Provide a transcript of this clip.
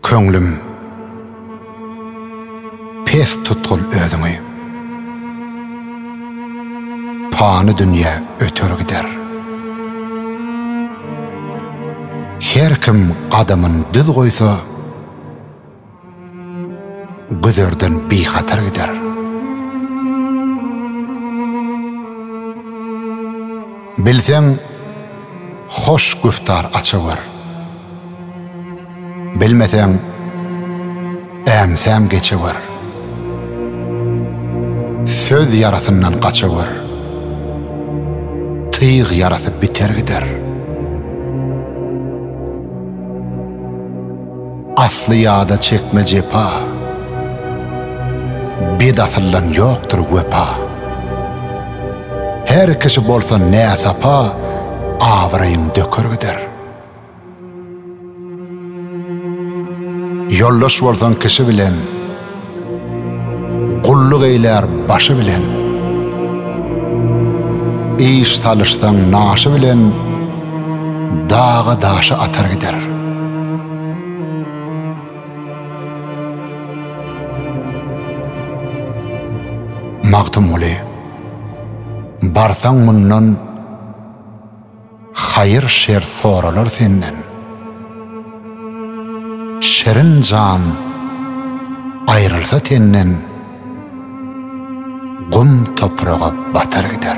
Köňlüm, pes tutgul özüňi. Pany dünýe öter gider. Her kim gadamyn düz goýsa, Güzerden bihatar gider. Bilseň, hoş güftar açyber. Bilmeseň, äm-säm geçiber. Söz ýarasyndan gaçyber. Tyg ýarasy biter gider. Asly ýada çekme jepa. Bet asyldan ýokdur wepa. Her kişi bolsa näsapa, abraýyň döker gider. Ýoldaş bolsaň kişi bilen. Gulluk eýlär başy bilen. Iş salyşsaň naşy bilen, daga-daşa atar gider. Magtymguly, barsaň mundan. Haýyr-şer soralar senden. Şirin jan aýrylsa tenden, Gum topraga batar gider.